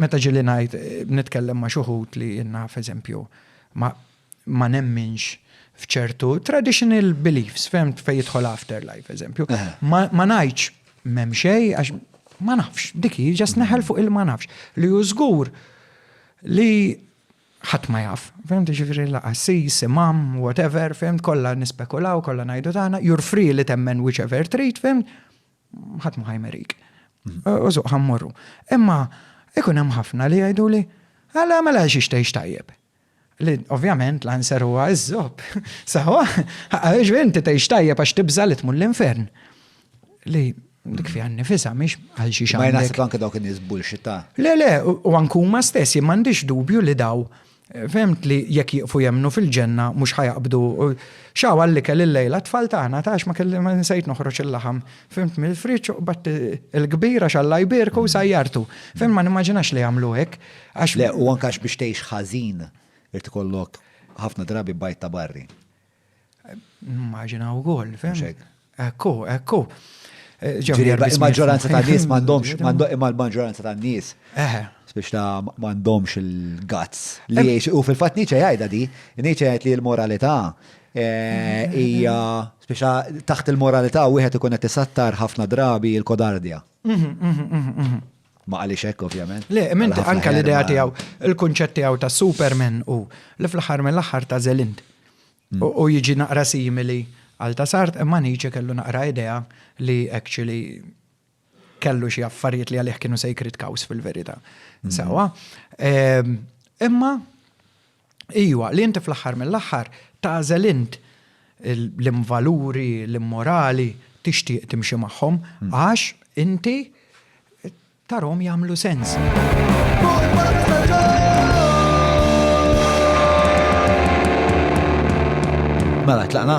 Meta ġieli ngħid, nitkellem ma' xi wħud li jien naf, eżempju, ma ma nemminx f'ċertu traditional beliefs, fehmt, fejn jidħol afterlife, eżempju. Ma ma ngħidx m'hemm xejn għax ma nafx, dik hi ġast neħel fuq il-ma nafx. Li hu żgur li ħadd ma jaf, fehmt, jiġifieri la qassis, imam, whatever, fehmt, kollha nispekulaw, kollha ngħidu tagħna, you're free li temmen whichever trid, fehmt, ħadd ma ħajmerik. Użuq ħammorru. Imma ikun hemm ħafna li jgħidu li għala mela għax ixtejx tajjeb. Li ovvjament l-anser huwa iżżob. Sawa, għax inti tgħix tajjeb għax tibża li tmur l-infern. Li dik fi għanni fisa, miex għal xi xaħġa. Ma jnaħseb anke dawk in-nies bullxita. Le, le, u ankuma stess, m'għandix dubju li daw Fehmt li jekk jieqfu jemmnu fil-ġenna mhux ħa jaqbdu. X'hawn għall-ikel illejla t-tfal tagħna? Tgħax ma kelli ma nsejt noħroġ il-laħam. Fehmt mill-friġġ u qbadt il-kbir għax Alla jbierku u sajjartu. Fehmt ma nimmaġinax li jagħmlu hekk għax. Le, u anke għax biex tgħix ħażin irid ikollok ħafna drabi bajd ta' barri. Nimmaġina wkoll, fem? Ekku, ekku. Eh, il-maġġoranza ta' nies m'għandhomx, imma l-maġġoranza ta' nies. Eh. Biex ta' m'għandhomx il-gazz. Li u fil-fatt Nietzsche jgħidha di, Nietzsche jgħid li l-moralità eh, hija biex taħt il-moralità wieħed ikun qed isattar ħafna drabi l-kodardja. Mhm, mhm, mhm, Ma qalix hekk ovvjament. Le, imma inti anke l-idea tiegħu, il-kunċett tiegħu ta' Superman u li fl-aħħar mill-aħħar ta' Zelind. Mm. U jiġi naqra simili għal ta' sart imma Nietzsche kellu naqra idea li actually kellu xi affarijiet li għalih kienu sacred cows fil-verità. Mm-hmm. Sawa. Ehm, imma Ijwa, li inti fl-aħħar mill-aħħar tagħżel int lim valuri, lim morali tixtieq timxi magħhom għax inti tarhom jagħmlu sens. Mela tlaqna.